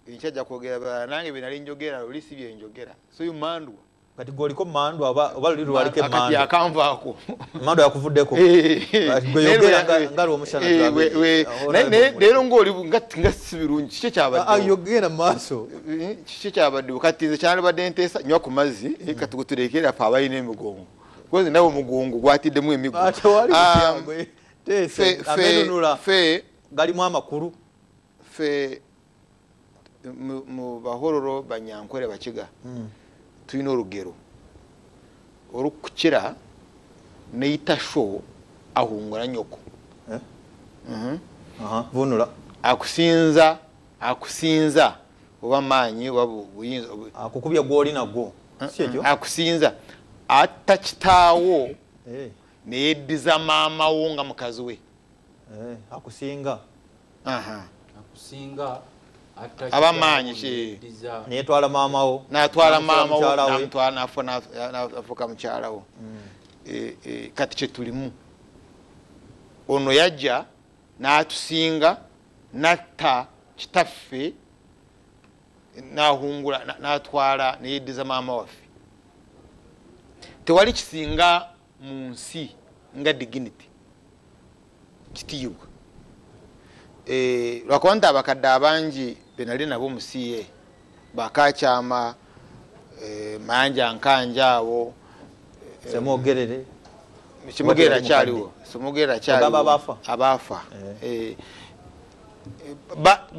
enkya ajja kwogera birala nange bye nali njogera luli si bye njogera so you mandwa kati gwoliko mandwa oba oba luli lwaliko emandwa kati akanvaako mandwa yakuvuddeko ngali omushana leero ngaoli nga si birungi kiki ekyabaddeoyogenda ah, ah, maaso eh, kiki ekyabaddewo kati nze kyandibadde nteesa nywa ku mazzi eh, hmm. kati guturekeera fe abalina emigongo kozi nawe omugongo gwatiddemu emigo ah, fe galimu amakulu ffe mu bahororo banyankwere bakiga hmm. tulina olugero olukukira neyita sho ahungula nyoko eh? mhm. vunula akusinza akusinza oba maanyi oba buyinza akukubya gwoli nagwo mm-hmm. akusinza atta kitaawo eh. neyeddiza maama wo nga mukazi we akusinga akusinga abamaanyi netwala maamawo natwala maamawonamutwalanafuka mukyalawo mm. eh, eh, kati kyetulimu ono yajja natusinga natta kitaffe nahungula natwala neyeddiza maama waffe tewali kisinga mu nsi nga diginity kitiyibwa eh, lwakuba nti abakadde abangi benali nabo mu ca bakakyama eh, mayanja nkanja awo eh, semwogerere kimugeera kyaliwo simugeera kyaliwo abaafa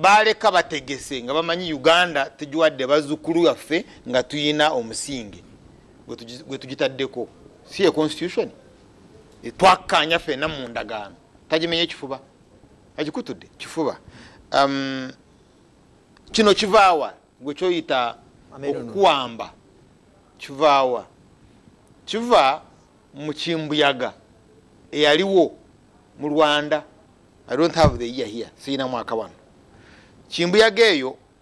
baleka bategese nga bamanyi uganda tugiwadde bazukulu yaffe nga tuyina omusinge gwetugitaddeko si ye constitution twakkaanya fena mu ndagaano tagimenye kifuba agikutudde kifuba um, kino kivaawa gwe kyoyita okukuwamba kivaawa kiva mu kimbuyaga eyaliwo mu rwanda i don't have the year here siyina mwaka wano kimbuyaga eyo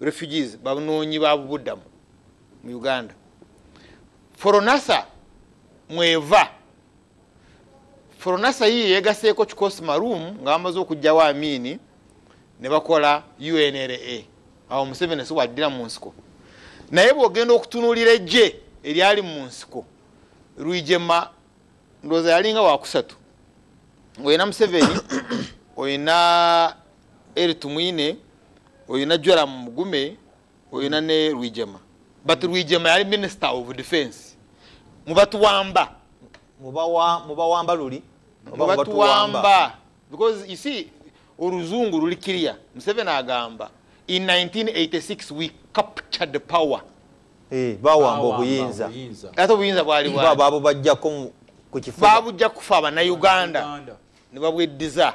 refugees banoonyi babubuddamu mu uganda foronasa mweva foronasa yiye yegaseeko kikosi marum nga bamaze okugjawo amiini ne bakola unra awo museveni si waddira mu nsiko naye bwogenda okutunulira ejje eryali mu nsiko lwijema ndowooza yalinga wakusatu ngaolina museveni olina eri tumwine oyo najwera mu mugume oyo na ne rwijema but rwijema yali minister of defense mubatuwamba mubawamba luli mubatuwamba because you see oluzungu luli kiriya museveni agamba in 1986 we captured power eh, bawamba obuyinza ate obuyinza bwali bwabo bajjako ku kifuba babujja kufa abanauganda ne babweddiza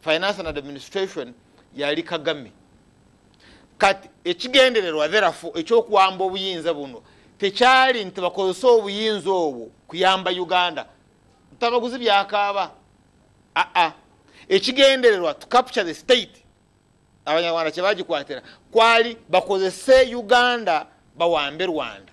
finance and administration yali kagame kati ekigendererwa therafu ekyokuwamba obuyinza buno tekyali nti bakozese obuyinza obwo kuyamba uganda ntamaguzi byakaaba aa ekigendererwa to capture the state abanyarwanda kyebagikwatira kwali bakozese uganda bawambe rwanda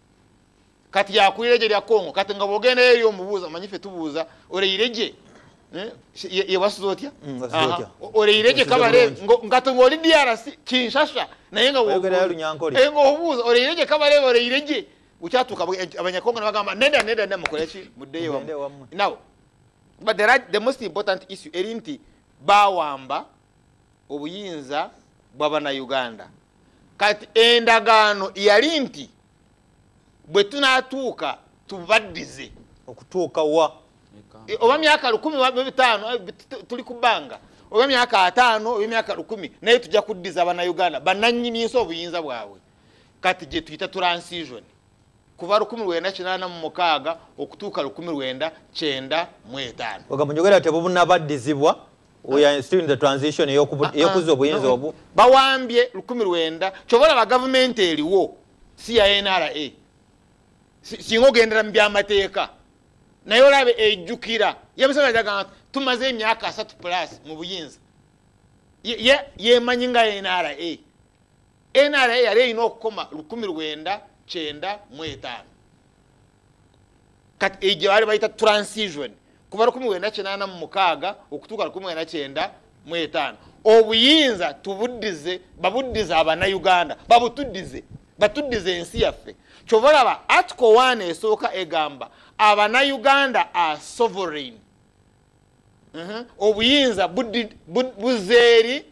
kati yakulira egye lya congo kati nga bwogendayo eri omubuuza manyi fe tubuuza oleyire gye eh, yewasuza otya mm, oleyire gye kabale ngati ngaoli drc kinshasha naye nga eh, obuuza oleyire gye kabale oleyire gye ukyatuka eh, abanyakongo nabagamba neda neda neda mukoleki muddeyo wamu now but the, right, the most important issue eri nti bawamba obuyinza bwabanauganda kati endagaano yali nti bwe tunatuuka tubaddize okutuuka wa e, oba myaka lukumi bitaano eh, tuli ku bbanga oba myaka ataano oba myaka lukumi naye tujja kuddiza banauganda bananyini nsi obuyinza bwabwe kati gyetuyita transition kuva 1986 okutuuka 1995 ogambo njogera tebubunabaddizibwa we are still in the transition ah, ah. eyokuzza obuyinza obwo bawambye 19 kyova olaba gavumenti eriwo si ya nra singa ogendera mu byamateeka naye olaba ejjukira yemuseveni agamba tumaze emyaka asatu plus mu buyinza yemanyi nga nra nra yali erina okukoma lukumi lwenda kyenda mu etaano kati egyo baali bayita transition kuva lukumi lwenda kinaana mu mukaaga okutuuka lukumi lwenda kyenda mu etaano obuyinza tubuddize babuddize abanauganda babutuddize batuddize ensi yaffe kyova laba atiko waana esooka egamba abanauganda a sovereign mhm. obuyinza buzeeri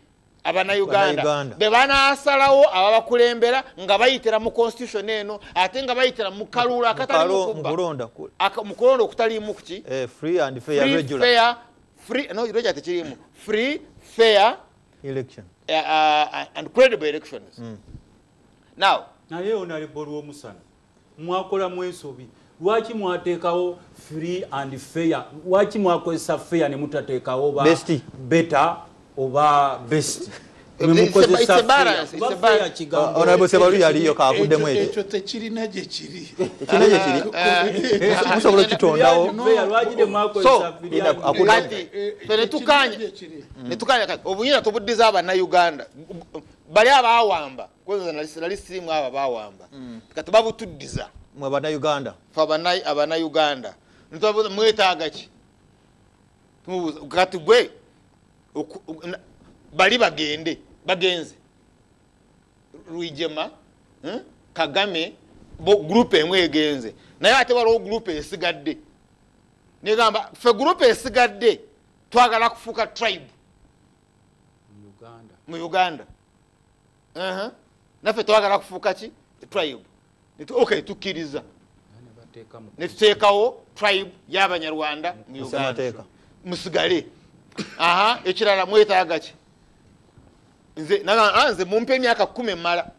abanauganda bebanasalawo ababakulembera nga bayitira mu constitution eno ate nga bayitira mukaluula akatalimukulonda okutalimu kuki eh, tekirimu free fair election uh, uh, and credible elections mm. now naye onalebwa olwomusana mwakola mwensobi lwaki mwateekawo free and fair lwaki mwakozesa fair ne mutateekawo ba beta oba best ekyo tekirina gyekirimusobola okitondawonetukanya obuyina tubuddiza abanauganda bali abawamba kwoza nali sirimu abo bawamba mm. kati babutuddiza mwe banauganda fe abanauganda ntubabuuza mwetaaga ki tumubuuza kati gwe bali bagende bagenze rwijema hmm? kagame gurupu emu egenze naye ate waliwo gurupu esigadde negamba fe gurupu esigadde twagala kufuuka tribe mu uganda naffe twagala kufuuka ki tribe ok tukkiriza netuteekawo tribe yabanyarwanda mu uganda musigale aha ekirala mwetaaga ki nze ah, nze mumpa emyaka kumi emala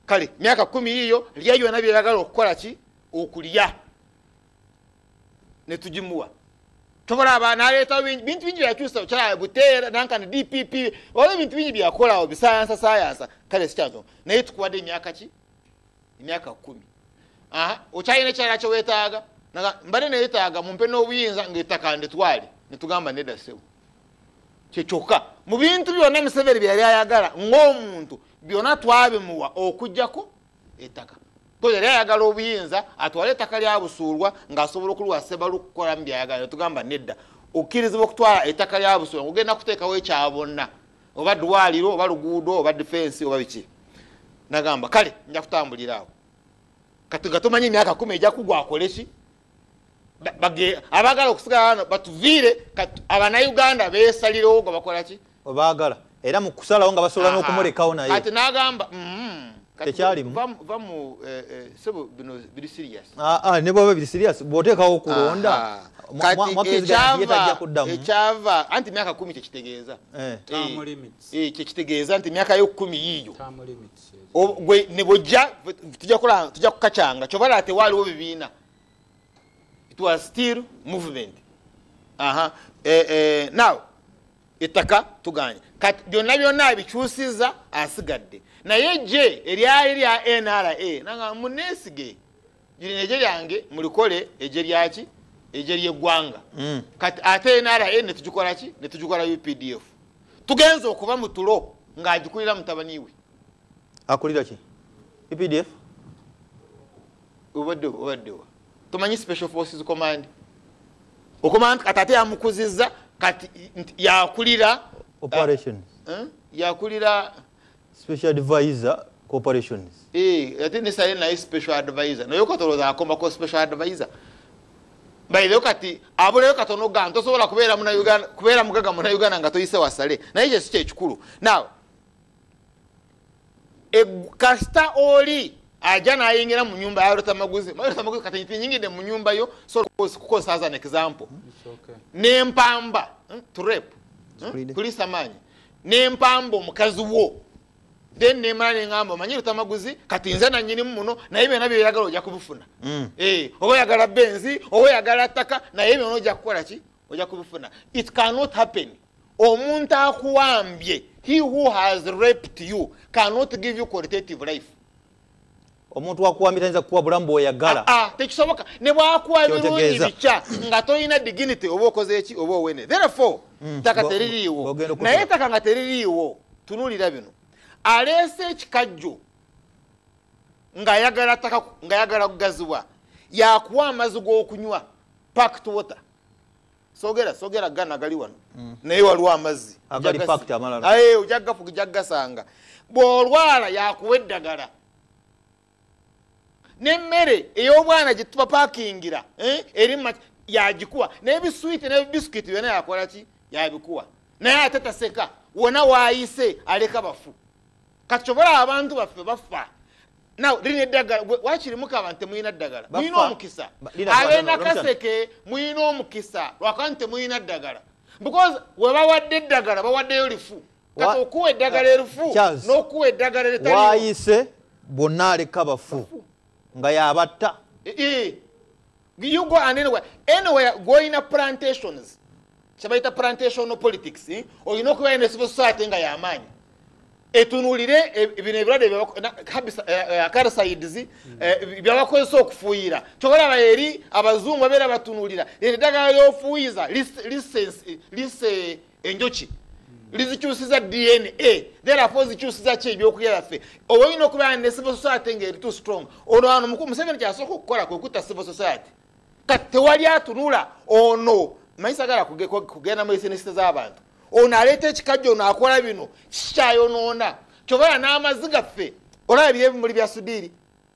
kale myaka kumi yiyo lya yona byeyagala okukola ki okulya netugimuwa tobalaba naleetawo bintu bingi byakyusa okyala buteera nankani dpp oba ebintu bingi byakolawo bisayansa sayansa kale sikyazo naye tukuwadde emyaka ki emyaka kumi okyalina ekyala kyewetaaga mbadde neyetaaga mumpe n'obuyinza ngaettaka ndetwale netugamba neda sebo kyekyokka mu bintu byonna museveni byeyali ayagala ng'omuntu byonna twabimuwa okujjako ettaka ko yali ayagala obuyinza atwale ettaka lyabusuulwa ng'asobola okuliwa sebalu okukolamu byayagala netugamba nedda okkirizibwa okutwala ettaka lyabusuulwa ngaogenda kuteekawo ekyabonna oba dwaliro oba luguudo oba difensi oba biki nagamba kale nja kutambulira awo kati nga tomanyi emyaka kumi eja kugwa akoleki abagala okusigala wano batuviire abanauganda besalirawo nga bakolaki obaagala era mu kusalawo nga basobola n'okumulekawo naye ati n'agamba mm-hmm. tekyalimu eh, eh, ah, ah, ne bwaba biri sirias bwoteekawo okulonda ekyava eh, anti myaka kumi kyekitegeeza kyekitegeeza nti myaka yo kumi yiiyo gwe ne bwojja tujja kola tujja kukacanga kyoba laba tewaaliwo bibiina it was still movement aha eh, eh, now ettaka tuganye kati byonna byonna abikyusiza asigadde naye je eryali lya nra nanga munesige lino egye lyange mulikole egye lyaki egye lyeggwanga mm. kati ate nra netugikola ki netugikola updf tugenza okuba mu tulo ng'agikulira mutabani we akulira ki updf obadde obaddewa tomanyi special forces command okumanya nti kati ate yamukuzizza kati yakulira operation eh? Eh? yakulira special advisor corporations eh ate ne sale naye special advisor naye katoloza akoma ko special advisor bayireyo kati abuleyo katono gano tosobola kubeera muna uganda kubeera mugaga muna uganda nga toyise wasale naye kye si kyekikulu now e, kasita oli aja nayingira mu nyumba yalotamaguzi malotamaguzi kati tinyingide mu nyumba yo so kukosa as an example nempamba hmm, to rape hmm, kulisa maanyi nempamba omukazi wo then nemala nengamba omanyi lutamaguzi kati nze nanyinimu muno naye byona byoyagala oja kubifuna mm. eh, oba oyagala benzi oba oyagala ttaka naye byona oja kukola ki oja kubifuna it cannot happen omuntu akuwambye he who has raped you cannot give you qualitative life omuntu wakuwambye tayinza kukuwa bulamu bwoyagala ah, ah, tekisoboka ne bwakuwa birungi bikya nga tolina diginity oba okoze eki oba owene therefore mm, taka teririiwo naye taka nga teririiwo tunulira bino aleese ekikajjo ngaayagala taka ngayagala kugazibwa yakuwa amazi g'okunywa pact water sogera sogera gana gali wano mm. naye waliwo amazzi ojagafujagasanga bwolwala yakuwa eddagala nemmere eyobwana gyetuba pakingira eh, eri yagikuwa nebiswiti nebisikiti byona yakolaki yabikuwa naye ate taseka wona wayise aleka bafu kati kyobola abantu baffe baffa naw lina eddagala wakiri mukaba nti temulina ddagala mulina omukisa abenakaseke mulina omukisa lwakuba nti temulina ddagala because webawadde eddagala bawaddeyo lifu kati okuwa eddagala erufu nokuwa eddagala eritawayise bwonna aleka bafu nga yabatta eh, eh. you go and anywhere anywhere gwolina plantations kyebayita plantation politics eh? olina okubeera ne civil society nga yamaanyi etunulire e, bino ebirwadde karisayidizi byabakozesa eh, eh, okufuuyira kyobalaba eri abazungu babeera batunulira eddagala lyofuuyiza lise enjuki lizikyusiza dna therefore zikyusiza ki ebyokulya byaffe oba olina okubeera ne civil society nga eri too strong ono ano mukulu museveni kyasooka okukola kwe kutta civil society kati tewali atunula ono manyi sagala kugenda mu esenesita z'abantu ono aleeta ekikajja ono akola bino kikyayonoona kyobaera n'amazi gaffe olaba biri ebimuli bya sudiiri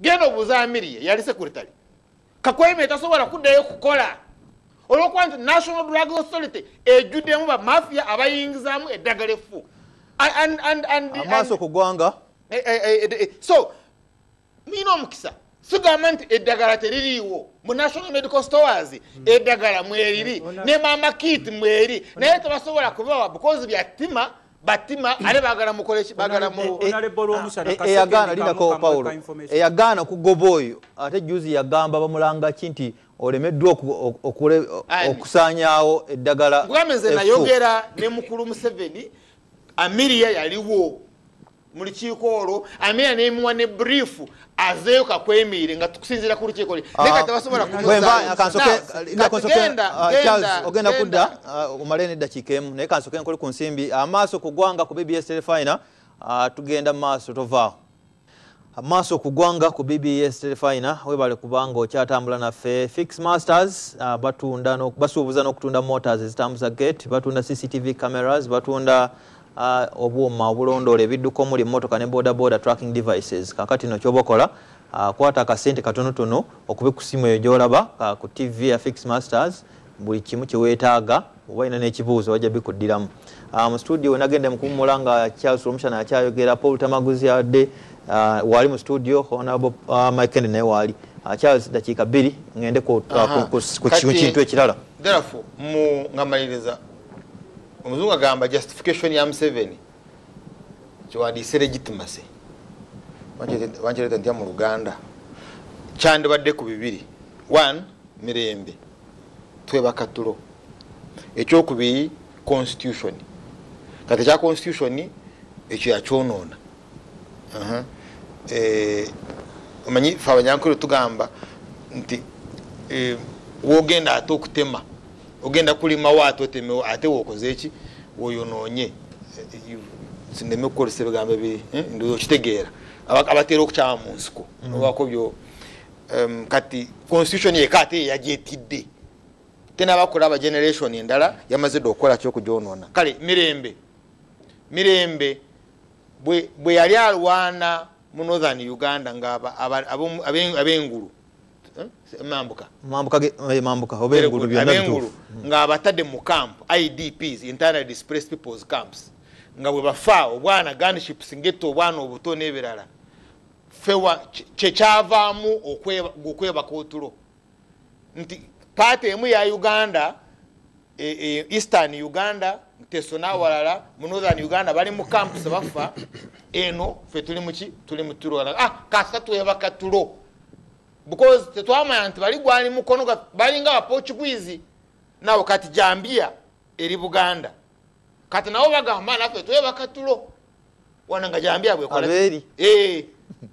genda obuuza amirie yali sekuritale kakweme tasobola kuddayo kukola olwokuba nti national drug authority ejjuddemu bamafia abayingizamu eddagala effu amaaso kugwanga eh, eh, eh, so mulina omukisa sigamba nti eddagala teririiwo mu national medical stores hmm. eddagala mweriri ne mama kit mweri naye tebasobola kubawa because bya tima batima ale bagala mukoleki bagala mu e, e, e, eyagaana linako paulo eyagaana kugoba oyo ate juzi yagamba bamulanga ki nti olemeddwa okusaanyaawo eddagala kugambe nze nayogera ne mukulu museveni amiria yaliwo mu lukiiko olwo amina nemuwa ne brief azeeyo kakwemiire nga tukusinzira ku lukiiko lye naye kati basobola kumuzaogenda kudda omale neddakiika emu naye kansoke nkole ku nsimbi amaaso ku gwanga ku bbs telefina tugenda mu maaso tovaawo amaaso ku gwanga ku bbs telefina webale kubanga okyatambula naffe fix masters basuubuza n'okutunda motors ezitambuza gate batunda cctv cameras batunda Ah, obwuma obulondoola ebidduka omuli emmotoka ne bodaboda tracking devices kakati no kyoba okola ah, kwata akasente katonotono okube ku simu eyo gyolaba ah, ku tv ya fix masters buli kimu kyeweetaaga oba olina n'ekibuuzo wajja bikuddiramu mu studio wenagenda mukuwumula nga charles omushana akyayogera paul tamaguzi adde waali mu studio honab mikend naye waali charles dakiika bbiri ngende ku kintu ekirala therefore mu ngamaliriza omuzungu agamba justification ya museveni kyewandiise legitimacy wankireeta ntya mu luganda kyandibadde ku bibiri one mirembe twebaka tulo ekyokubiri constitution kati ekya constitution ekyo yakyonoona eh, omanyi fe abanyankole tugamba nti eh, wogenda ate okutema ogenda kulimawo ate otemewo ate wokoze eki woyonoonye sineme kukozesa ebigambo ebi eh, ndoza okitegeera abatera okukyama mu nsiko mm. obako byo um, kati constitution yeka ate yagyetidde tenabakola aba generation endala yamaze dde okukola kyokugyonona kale mirembe mirembe bwe yali alwana mu northern uganda nga abengulu mambuka mambuka ge eh, mambuka obengulu byonna bitufu hmm. nga abatade mu camp idps internally displaced people's camps nga bwe bafa obwana gunships ngetta obwana obuto n'ebirala fewa kyekyavaamu okwebaka otulo nti paati emu ya uganda e, e, eastern uganda teso nawalala mu northern uganda bali mu camps bafa eno fe tuli muki tuli mutulo ah kasa tuyaba katulo because tetwamanya nti bali gwali mukono balinga abaportuguese nawe kati jambia eri buganda kati nawo bagamba nafe tuyaba katulo wano nga jambya bwekola abeeri eh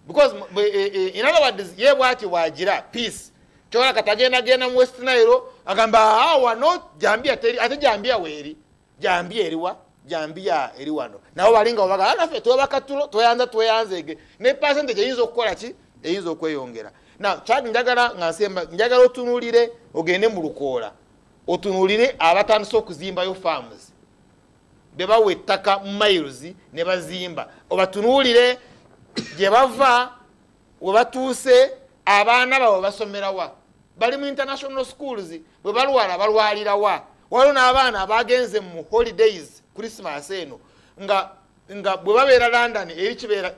because eh, eh, eh, in other words ye bwati wajira peace kyola katagenda genda mu west nile agamba ah, awa no jambia teri ate jambia weri jambia eriwa jambia eri wano nawo balinga obaga ah, nafe twebakatulo tweyanza tweyanzege ne percentage eyinza okukola ki eyinza okweyongera na chad njagala nga nsemba njagala otunulire ogende mu lukoola otunulire abatandise okuzimbayo farms bebawa ettaka miles ne bazimba obatunuulire gye bava we batuuse abaana bawe basomerawa bali mu international schools bwe balwala balwalirawa waliwo n'abaana abagenze mu holidays christmas eno nga nga bwe babeera london eri kibeera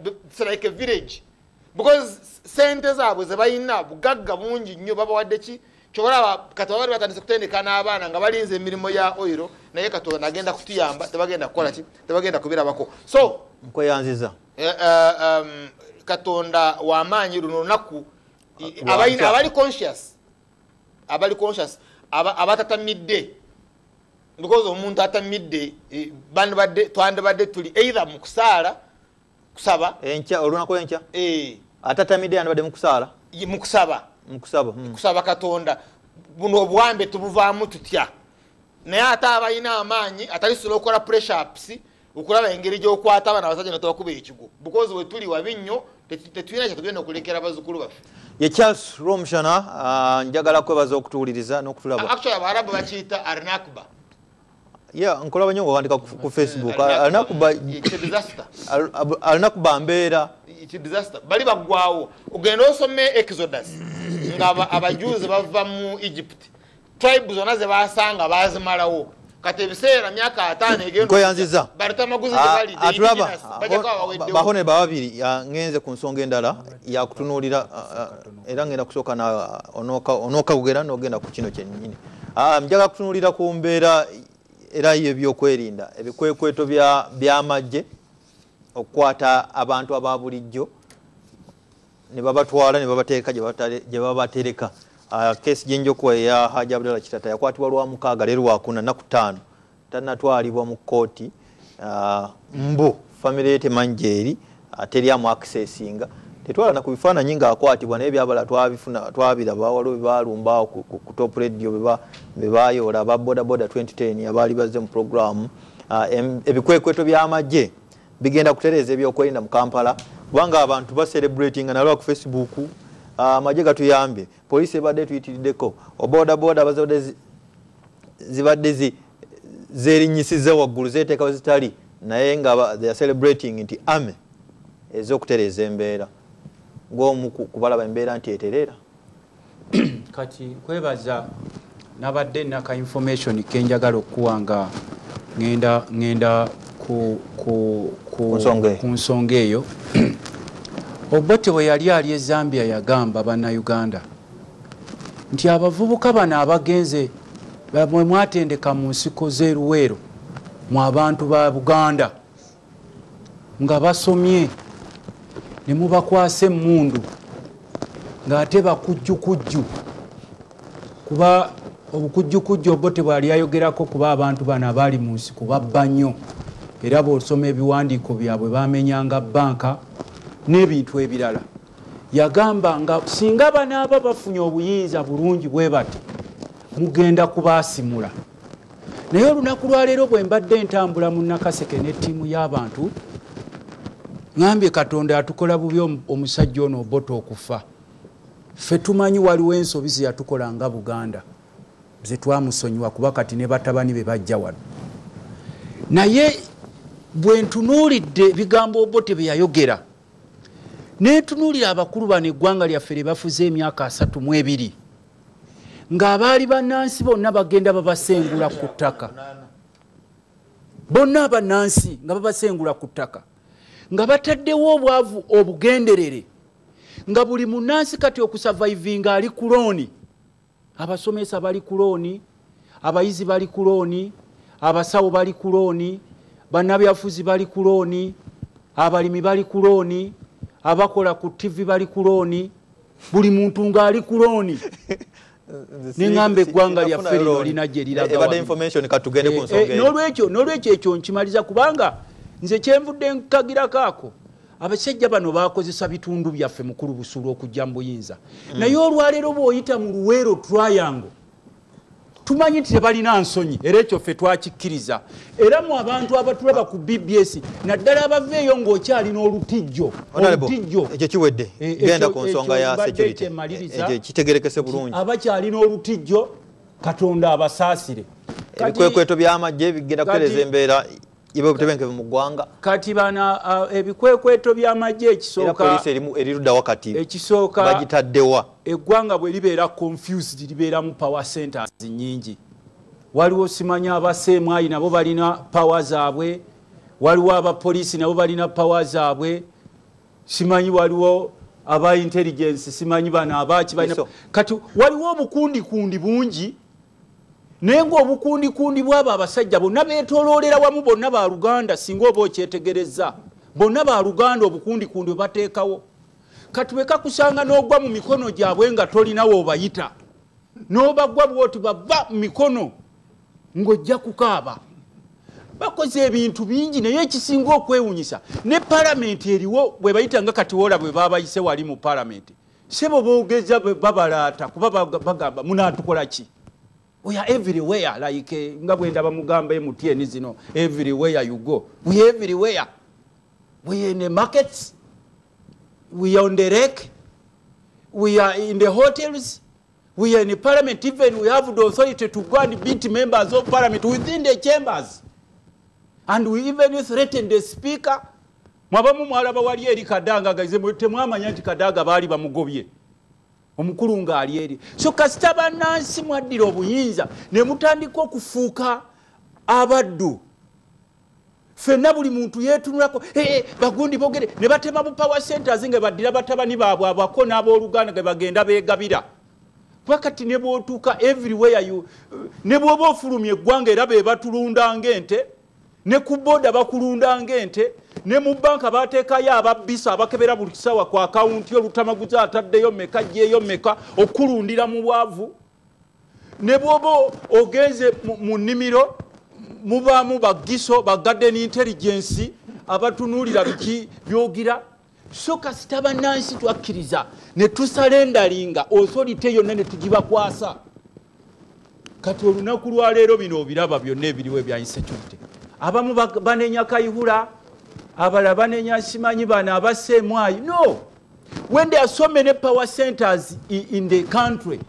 like village because sente zaabwe zebalina bugagga bungi nnyo babawadde ki kyobalaba kati babali batandise kutendeka n'abaana nga balinza emirimu ya oiro naye katonda agenda kutuyamba tebagenda kukola ki tebagenda kubirabako so nkweyanziza eh, eh, um, katonda wamaanyi luno lunaku abali conscious abali conscious abatatamidde because omuntu atamidde eh, twandibadde tuli either mu kusaala kusaba enkya olunaku enkya eh. atatamidde yandibadde mukusaala mukusaba mukusaba hmm. kusaba katonda buno obuwambe tubuvaamu tutya naye ate abalina amaanyi atalisobola okukola pressups okulaba engeri gyokwata abana abasajja netobakuba ekigo bukozi wetuli wabi nnyo tetulina kyetugenda okulekera abazukulu baffe ye charles romshana ah, njagala kwebaza okutuwuliriza nokutulaba actually abarabu bakiyita arnakba Yeah, nkulaba nyo ngawandika ku Facebook. Alina kuba it's a disaster. Alina kuba mbeera. It's a disaster. Bali bagwawo. Ogenda osome Exodus. Nga abajuzi bava mu Egypt. Tribes zona ze basanga bazimalawo. Kati ebiseera myaka 5 egenda. Koyanziza. Barita maguzi ah, bali. Atulaba. Bahone babiri ngenze ku nsonga endala ya kutunulira ah, ah, era ngenda kusooka onookagugera nogenda ku kino kyennyini ah, njaga kutunulira ku mbeera era yebyokwerinda ebikwekweto byamagye okukwata abantu aba bulijjo ne babatwala ne babateeka gye babatereka ah, kesi gyenjokuwa eya haji abdalla kitata yakwatibwa lwa mukaaga leero wakuna naku ttaano tanatwalibwa mu kooti ah, mbu famire ye temanyi gyeri ah, teri amu akisesinga tetwalana ku bifaananyi ngaakwatibwa naye byabala twabifuna twabiraba waliwo bebalumbaawo ku top radio bebayoola aba bodaboda 2010 abaali bazze mu programu ah, ebikwekweto by'amagye bigenda kutereeza ebyokwerinda mu kampala kubanga abantu baserebratinga nalwa ku facebook amagye gatuyambye poliisi ebadde tuyitiriddeko obodaboda bazadde zibadde zi zerinyisiza waggulu zeteeka wezitali naye nga they are celebrating nti ame ezokutereeza embeera gwomu kubalaba embeera nti eterera kati nkwebaza nabadde naka information kenjagala okukuwa nga ngenda ngenda ku nsonga eyo obote bwe yali ali ezambia yagamba banauganda nti abavubuka bano abagenze mwe mwatendeka mu nsiko z'eruweero mu abantu ba buganda nga basomye ne mubakwasa emmundu ng'ate bakujjukujju kuba obukujjukujju obwo tebwali ayogerako kuba abantu bano abaali mu nsiko babba nnyo era bw'osoma ebiwandiiko byabwe bamenyanga bbanka n'ebintu ebirala yagamba nga singa banaaba bafunye obuyinza bulungi bwe bati mugenda kubaasimula naye olunaku lwaleero bwe mbadde entambula mu nakaseke ne ttiimu y'abantu ŋambye katonda atukola bubi omusajja ono obota okufa ffe tumanyi waliwo ensobi zeyatukola nga buganda zetwamusonyiwa kuba kati ne batabani be bajja wano naye bwe ntunuulidde ebigambo obote bye yayogera netunuulira abakulu bano eggwanga lyaffe lye bafuze emyaka asatu mu ebiri ng'abaali bannansi bonna bagenda babasengula ku ttaka bonna abannansi nga babasengula ku ttaka nga bataddewo obwavu obugenderere nga buli munnansi kati okusavaivinga ali ku looni abasomesa bali ku looni abayizi bali ku looni abasawo bali ku looni bannabyafuzi bali ku looni abalimi bali ku looni abakola ku tivi bali ku looni buli muntu ng'ali ku looni neŋamba eggwanga lyaffe lino lina gye liragaolwekyo eh, eh, ekyo nkimaliza kubanga nze kyenvudde nkagirako ako abasajja bano bakozesa bitundu byaffe mukulu busulu okujja mu buyinza mm. naye olwaleero bwoyita mu luweero twayango tumanyi nti tebalina nsonyi era ekyo ffe twakikkiriza era mu abantu abatulaba ku bbs naddala abava eyo ng'okyalina olutijjo olutijjo ekyo kiwedde e, e, genda ku nsonga ya security e, kitegerekese bulungi abakyalina olutijjo katonda abasaasire ebikwekweto by'amagye bigenda kutereza embeera ibe obutebenkevu mu ggwanga kati bana uh, ebikwekweto by'amagye ekisookapoliisi eriruda wakati ekisooka bagitaddewa eggwanga bwe libeera confused libeeramu power centers nyingi waliwo simanya abaseemwayi nabo balina power zaabwe waliwo abapoliisi nabo balina power zaabwe simanyi waliwo aba intelligence simanyi bano abaaki balina kati waliwo obukundikundi bungi naye ngaobukundikundi bwabo abasajja bonna betoloolera wamu bonna ba luganda singa oba okyetegereza bonna ba luganda obukundikundi obateekawo kati bwekakusanga n'ogwa mu mikono gyabwe nga tolinawo obayita n'obagwa bwoti bava mu mikono ng'ojja kukaaba bakoze ebintu bingi naye ekisinga okwewunyisa ne palamenti eriwo bwebayita nga katiwola bwe babayise wali mu palamenti sebo bogeza babalaata kuba bagamba munatukola ki we are everywhere like eh, nga bwendaba mugamba emutn zino everywhere you go we are everywhere we are in the markets we are on the rek we are in the hotels we are in parliament even we have the authority to go and beat members of parliament within the chambers and we even threatened the speaker mwabamu mwalaba wali eri kadanga gaize temwamanya nti kadaga baali bamugobye omukulu ngaali eri so kasita banansi mwaddira obuyinza ne mutandika okufuuka abaddu fenna buli muntu yetunulako bagundi bogere ne batema bu power centers nga baddira batabani baabwe abako n'abooluganda ge bagenda beegabira kuba kati ne bwotuuka everywhere you ne bwoba ofulumya eggwanga era be batulunda ng'ente ne ku booda bakulunda ng'ente ne mu banka bateekayo ababbisa abakebera buli kisawa ku akawunti olutamaguzi ataddeyo meka gyeyo meka okulundira mu bwavu ne bwoba ogenze mu nnimiro mubaamu bagiso bagaden intelligensi abatunuulira biki byogira so kasita bannansi twakkiriza ne tusalendalinga osolite yonna ne tugibakwasa kati olunaku lwaleero bino obiraba byonna ebiriwo ebya insecurity abamu banenya kayihula abala banenya simanyi bano abaseemwayi no when there are so many power centers in the country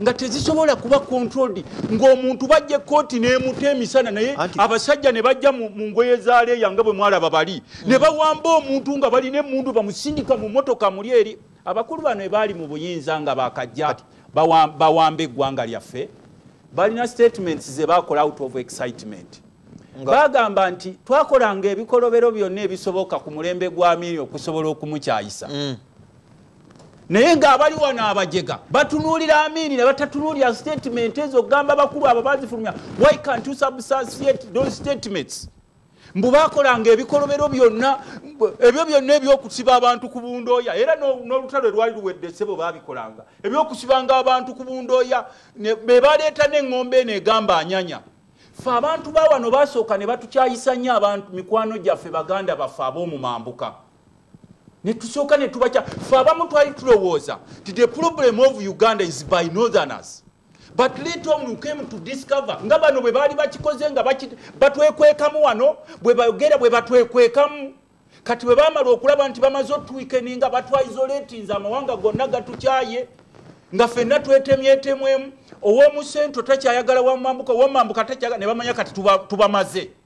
nga tezisobola kuba controlled ng'omuntu bajja ekkooti nemuta emisana naye abasajja ne bajja mu ngoye za leeya nga bwe mwalaba bali ne mm. bawamba omuntu nga balina emundu bamusindika mu motoka muli eri abakulu bano ebaali mu buyinza nga bakajja bawamba eggwanga lyaffe balina statements ze bakola out of excitement bagamba nti twakolanga ebikolobero byonna ebisoboka ku mulembe gwa miri okusobola okumukyayisa mm. naye ngaabali wano abajega batunuulira amiini ne batatunuulira statement ezo okugamba bakulu abo bazifulumya why can't you substantiate those statements mbu bakolanga ebikolobero byonna ebyo byonna ebyokusiba abantu ku bundooya era n'olutalo lwali luwedde sebo babikolanga ebyokusibanga abantu ku bundooya be baleeta n'eŋŋombe eno egamba anyanya fe abantu bawano basooka ne batukyayisa nnyo abantu mikwano gyaffe baganda baffe ab'omumambuka netusooka netubakya fe abamu twali tulowooza ti the problem of uganda is by northerners but later on you came to discover nga bano bwe baali bakikoze nga batwekwekamu wano bwe bagera bwe batwekwekamu kati bwe baamala okulaba nti bamaze otuwikeni nga batwaizoletinze amawanga gonna gatukyaye nga fenna twetemyetemwemu ow'omu sento takyayagala wamambuka owomambuka takyagala ne bamanya kati tubamaze tuba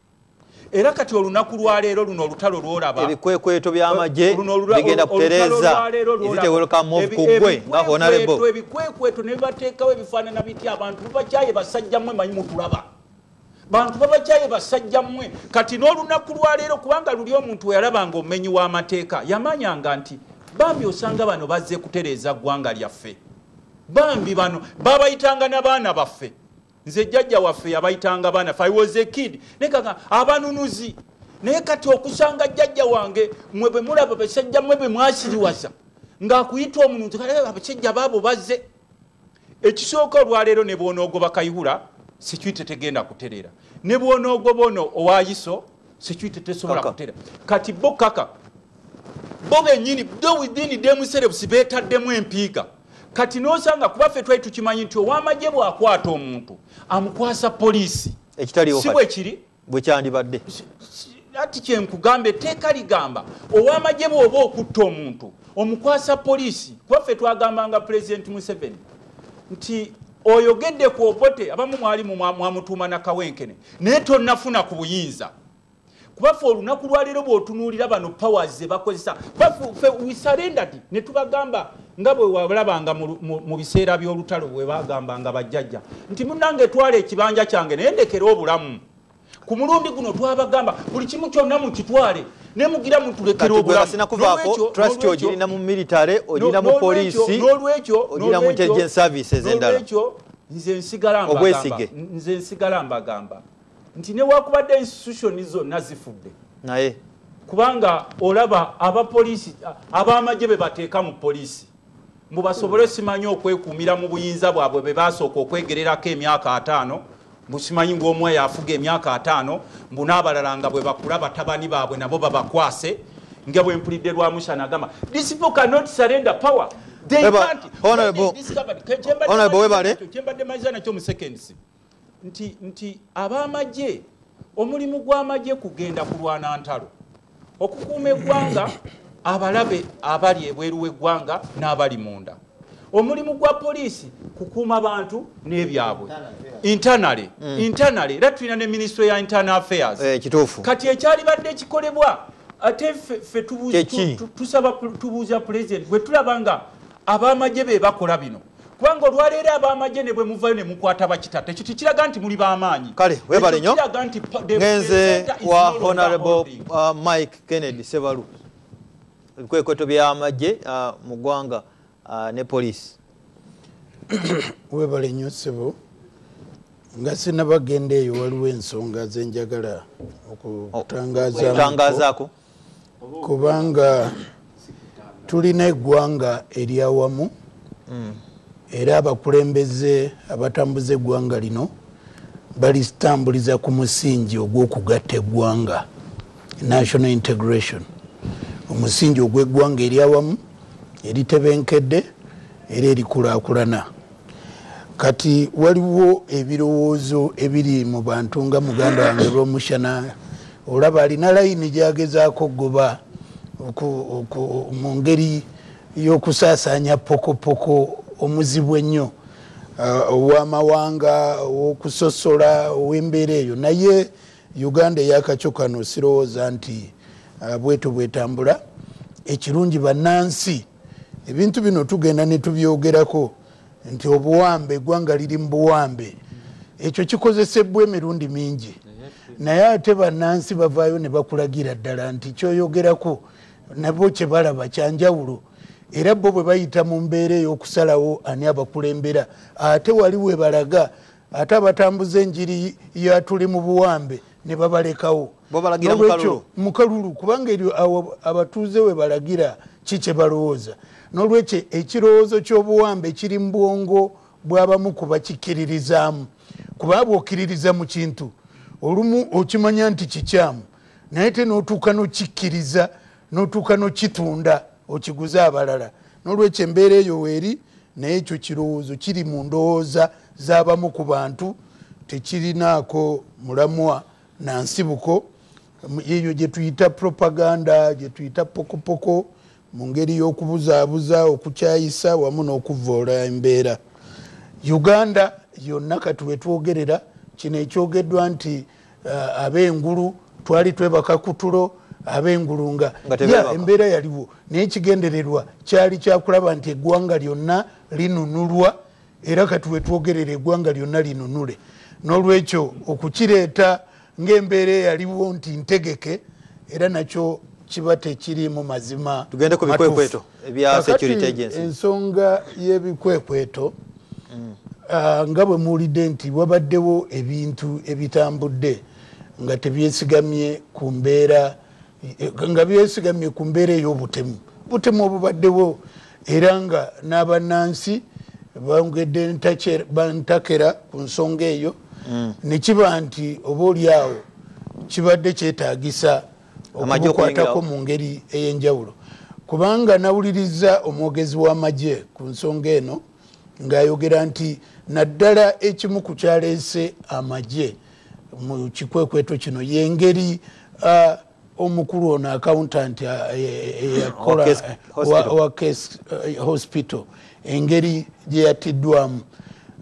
era kati olunaku lwaleero luno olutalo lwolaba ebikwekweto byamagye bigenda kutereza ezitewelokamuvkugwe nga honarebo ebikwekweto nebibateekawo ebifaanana bitya abantu bubakyaye basajjamwe manyi mutulaba bantu babajaye basajja mmwe kati n'olunaku lwaleero kubanga luli omuntu weyalabanga omumenyi w'amateeka yamanyanga nti bambi osanga bano bazze kutereeza ggwanga lyaffe bambi bano babayitanga nabaana baffe nze jjajja waffe yabayitanga baana fe was a kid naye kaga abanunuzi naye kati okusanga jjajja wange mwe bwe mulaba basajja mwe bwe mwasiriwaza ng'akuyita omuntu eh, abasajja baabo bazze ekisooka olwaleero ne bwonoogoba kayihura security tegenda kutereera ne bwonoogoba ono owayiso security tesobola kutereera kati bo kaka bo benyini do within demuserebusi betaddemu empiiga kati nosanga kuba ffe twali tukimanyi nti owamagye bwakwata omuntu amukwasa poliisi si bwekiri bwe kyandibadde ati kyenkugamba etteeka ligamba owamagye bwoba okutta omuntu omukwasa poliisi kubaffe twagambanga pulezidenti museveni nti oyogedde ku obote abamu mwali mwamutuuma nakawenkene naye tonafuna ku buyinza kubaffe olunaku lwaleero bwotunuulira bano powers zebakozesa kubafe wisarenderdi netubagamba nga bwe walabanga mu biseera by'olutalo bwe bagamba nga bajjajja nti munange twala ekibanja kyange naye ndekere obulamu ku mulundi guno twabagamba buli kimu kyonna mukitwale nemugira mutulekera obulamuolwekyo nze nsigala mbagamba nti newakubadde institution zonna zifudde naye kubanga olaba abapoliisi abamagye bebateeka mu poliisi mbu basobole simanyi okwekuumira mu buyinza bwabwe be basooka okwegererako emyaka ataano busimanyi ngaomuwa yafuga emyaka ataano mbu n'abalala nga bwe bakula batabani baabwe nabo babakwase nga bwe mpulidde lwa musa nagamba this people cannot surrender power kyembadde mayiza nakyo mu seconds nti nti ab'amagye omulimu gw'amagye kugenda kulwana ntalo okukuuma eggwanga abalabe abali ebweru w'eggwanga n'abali munda omulimu gwa poliisi kukuuma bantu n'ebyabwe intanale mm. intanale era tulina ne minisitule ya internal affairs eh, kati ekyalibadde kikolebwa ate fe tubuuza pulezidenti bwe tulaba nga abamagye be bakola bino kubanga olwaleero abamagye ne bwe muvayo ne mukwata bakita tekyo tekiraga nti muli bamaanyi kale webale nyo ngenze wa honorable uh, mike kennedy sebalu ebikwekweto byamagye uh, mu ggwanga uh, ne poliisi webale nyo sebo nga sinabagenda eyo waliwo ensonga zenjagala okutangazaako kubanga tulina eggwanga eryawamu hmm. era abakulembeze abatambuza eggwanga lino balitambuliza ku musingi ogw'okugatta eggwanga national integration omusingi ogw'eggwanga eryawamu eritebenkedde era erikulakulana kati waliwo ebirowoozo ebiri mu bantu nga muganda wange lwomushana olaba alina layini gyagezaako okugoba mu ngeri y'okusaasaanya pokopoko omuzibu ennyo uh, owamawanga okusosola owembeera eyo naye uganda eyakakyo kano sirowooza nti uh, bweto bwetambula ekirungi bannansi ebintu bino tugenda netubyogerako nti obuwambe egwanga liri mu buwambe ekyo kikozesebwa emirundi mingi naye ate banansi bavaayo ne bakulagira ddala nti kyoyogerako nabo kyebalaba kyanjawulo era bo bwe bayita mu mbeera ey'okusalawo ani abakulembera ate wali webalaga ate abatambuza enjiri yatuli mu buwambe ne babalekawo nolwekyo mukalulu kubanga eryo abatuuze we balagira ki kye balowooza nolwekyo ekirowoozo ky'obuwambe kiri mu bwongo bw'abamu ku bakikkiririzaamu kuba bwokkiririza mu kintu olumu okimanya nti kikyamu naye te n'otuuka n'okikkiriza notuuka nokitunda okiguze abalala nolwekyo embeera eyo weeri naye ekyo kirowoozo kiri mu ndowooza z'abamu ku bantu tekirinaako mulamwa na nsibuko eyo gyetuyita propaganda gyetuyita pokopoko mu ngeri y'okubuzaabuza okukyayisa wamu n'okuvvoola embeera uganda yonna kati wetwogerera kino ekyogeddwa nti uh, abengulu twali twebaka kutulo abengulu nga ya embeera yaliwo naye ekigendererwa kyali kyakulaba nti eggwanga lyonna linunulwa era kati wetwogerera eggwanga lyonna linunule n'olwekyo okukireeta ng'embeera eyaliwo nti ntegeke era nakyo kiba tekiriimu mazima tugende ku bikwekweto ebya security agency ensonga y'ebikwekweto mm. ah, nga bwe muwulidde nti wabaddewo ebintu ebitambudde nga tebyesigamye ku mbeera eh, nga byesigamye ku mbeera ey'obutemu butemu obubaddewo era nga n'abannansi bongedde bantakera ku nsonga eyo mm. ne kiba nti oba oli awo kibadde kyetaagisa okumukwatako mu ngeri ey'enjawulo kubanga nawuliriza omwogezi w'amagye ku nsonga eno ng'ayogera nti naddala ekimu ku kyaleese amagye mu kikwekweto kino y'engeri uh, omukulu ono accountant eh, eh, eh, yakola wa case hospital engeri gyeyattiddwamu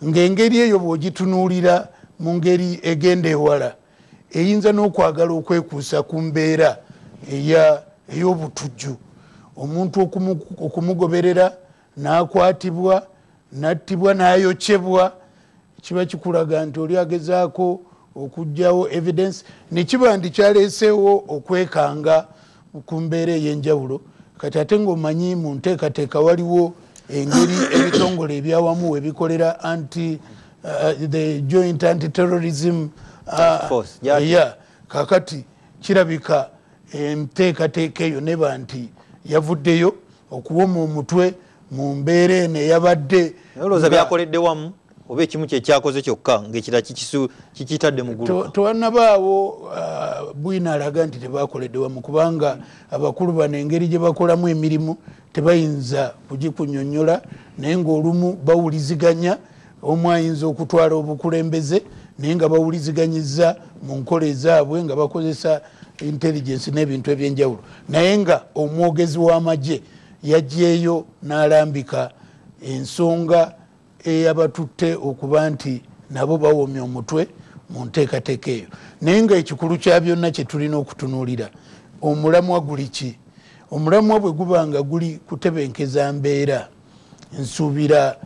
ng'engeri eyo bw'ogitunuulira mu ngeri egenda ewala eyinza n'okwagala okwekuusa ku mbeera ey'obutujju omuntu okumugoberera n'akwatibwa n'attibwa n'ayokyebwa kiba kikulaga nti oli agezaako okugyawo evidence nekiba nti kyaleeseewo okwekanga kumbeera eyenjawulo kati ate ngaomanyi mu nteekateeka waliwo engeri ebitongole ebyawamu webikolera anti uh, the joint anti terrorism uh, ya kakati kirabika enteekateeka eyo neba nti yavuddeyo okuwoma omutwe mu mbeera eno eyabadde olowooza byakoledde wamu oba ekimu kyekyakoze kyokka ngaekira kikitadde mugultewanabaawo uh, bwina alaga nti tebakoledde wamu kubanga abakulu bano engeri gye bakolamu emirimu tebayinza kugikunyonyola naye ngaolumu bawuliziganya omu ayinza okutwala obukulembeze naye nga bawuliziganyiza mu nkola ezaabwe nga bakozesa intelligence n'ebintu ebyenjawulo naye nga omwogezi w'amagye yagyeyo n'alambika ensonga eyabatutte okuba nti nabo bawomya omutwe mu nteekateeka eyo naye nga ekikulu kya byonna kye tulina okutunuulira omulamwa guli ki omulamwa bwe guba nga guli kutebenkeza mbeera nsuubira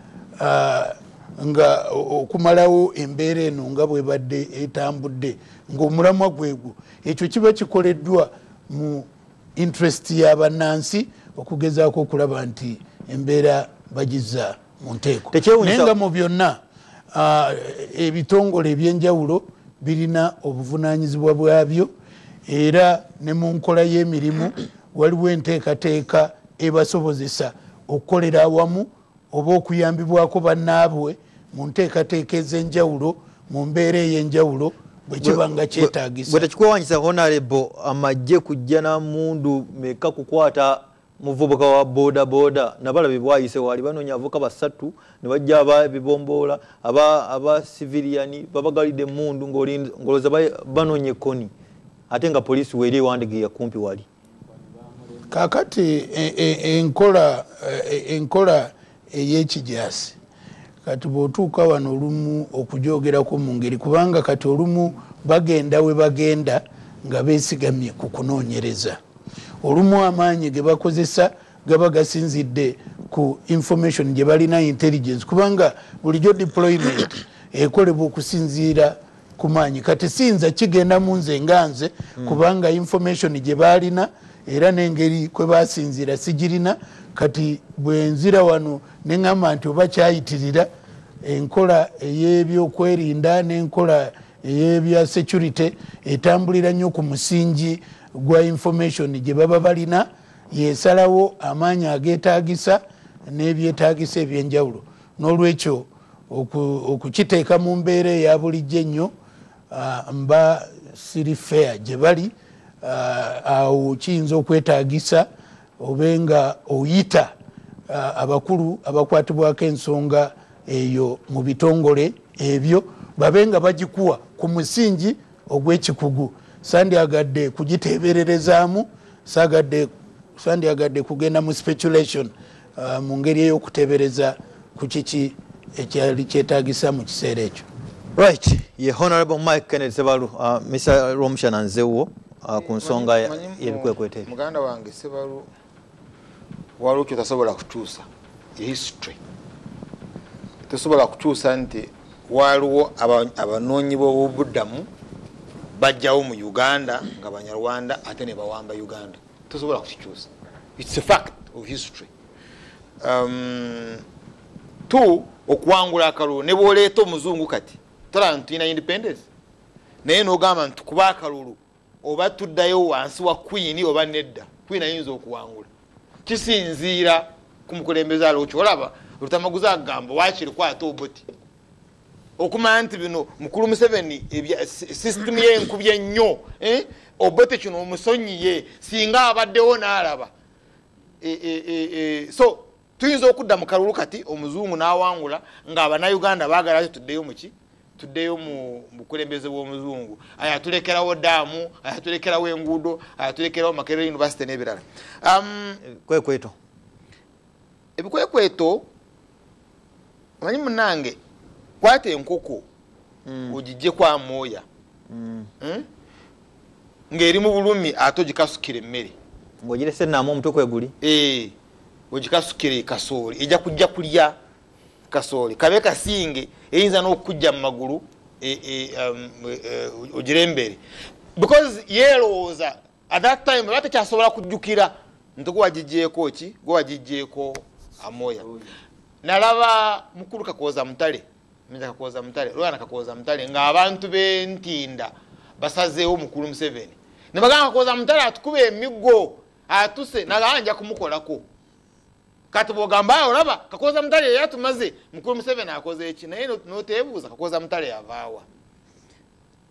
ah, nga okumalawo embeera eno nga bwebadde etambudde ngaomulamwa gwegwo ekyo kiba kikoleddwa mu interest ya bannansi okugezaako okulaba nti embeera bagiza mu nteeko naye nga mu byonna ah, ebitongole ebyenjawulo birina obuvunanyizibwa bwabyo era ne mu nkola y'emirimu waliwo enteekateeka ebasobozesa okukolera awamu oba okuyambibwako bannaabwe mu nteekateeka ez'enjawulo mu mbeera ey'enjawulo bwekiba nga kyetagisa bwe tekikwewanyisa honarebo amagye kujja na mundu meka kukwata muvubuka wa boda boda nabala bebwayise wali banonya avuka basatu ne bajja aba bibomboola aba aba civilian babagalide mundu ngoli ngoloza banonya koni ate nga polisi weli ewandigiya kumpi wali kakati e, e, enkola e, enkola eyekijasi kati bwotuuka wano olumu okujoogerako mu ngeri kubanga kati olumu bagenda we bagenda nga besigamye ku kunoonyereza olumu amaanyi ge bakozesa gaba gasinzidde ku information gye balina intelligence kubanga bulijjo deployment ekolebwa okusinziira kumaanyi kati siyinza kigenda mu nze nga nze hmm. kubanga information gye baalina era n'engeri kwe basinziira sigirina kati bwenzira wano ne ŋŋamba nti oba kyayitirira enkola ey'ebyokwerinda n'enkola ey'ebya security etambulira nnyo ku musingi gwa information gye baba balina yesalawo amaanyi ageetaagisa n'ebyetaagisa eby'enjawulo n'olwekyo okukiteeka mu mbeera eya bulijjo ennyo ah, mba siri fair gye bali ah, awo kiyinza okwetagisa obe nga oyita ah, abakulu abakwatibwako ensonga eyo mu bitongole ebyo babe nga bagikuwa ku musingi ogw'ekikugu sandyagadde kugiteebererezaamu sagadde sandyagadde kugenda mu speculation uh, mu ngeri ey'okutebereza ku kiki ekyali kyetagisa mu kiseera ekyo right ye honorable mike kennedy sebalu uh, mr romushana nzewo uh, ku nsonga yebikwekwete muganda wange sebalu waliwo kyotasobola kukyusa history tosobola kukyusa nti waliwo abanoonyi b'obubuddamu bajjawo mu uganda nga banyarwanda ate ne bawamba uganda tosobola kukikyusa its a fact of history um, two okuwangula akalulu ne bwoleeta omuzungu kati tolaba ntulina independence naye nogamba nti kuba akalulu oba tuddayo wansi wa kwini oba nedda kwini ayinza okuwangula kisinziira ku mukulembeze alokyo olaba olutamaguzi agamba wakiri kwata obuti okumanya nti bino mukulu museveni system ye enkubye nnyo eh? obote kino omusonyiye singa abaddewo n'alaba eh, eh, so tuyinza okudda mu kalulu kati omuzungu n'awangula nga abanauganda baagala ti tuddeyo muki tuddeyo mu bukulembeze bw'omuzungu ayo atulekerawo daamu ayo atulekerawo enguudo ayo atulekerawo makerere univesity n'ebirala um, kwekwetoo ebikwekweto manyi munange kwata enkoko mm. ogijje kwa mooya mm. hmm? ng'eri mu bulumi ate ogikasukira emmere ng'ogirese naamu omutwe kweguli eh, ogikasukire kasooli ejja kujja kulya kasooli kabe kasinge eyinza n'okukujja mu magulu e, e, um, e, ogirembere because yeerowooza at that time oba tekyasobola kujjukira nti gwe wagijjeeko ki gwe wagijjeeko amoya oh, nalaba mukulu kakooza mutale minza kakooza mutale lwana kakooza mutale ng'abantu bentinda basazeewo mukulu museveni ne bagamba kakooza mutale atukuba emiggo atuse nagamba nja kumukolako kati bwogamba olaba kakooza mutale yeyatumaze mukulu museveni akoze eki naye noteebuuza kakooza mutale yavaawa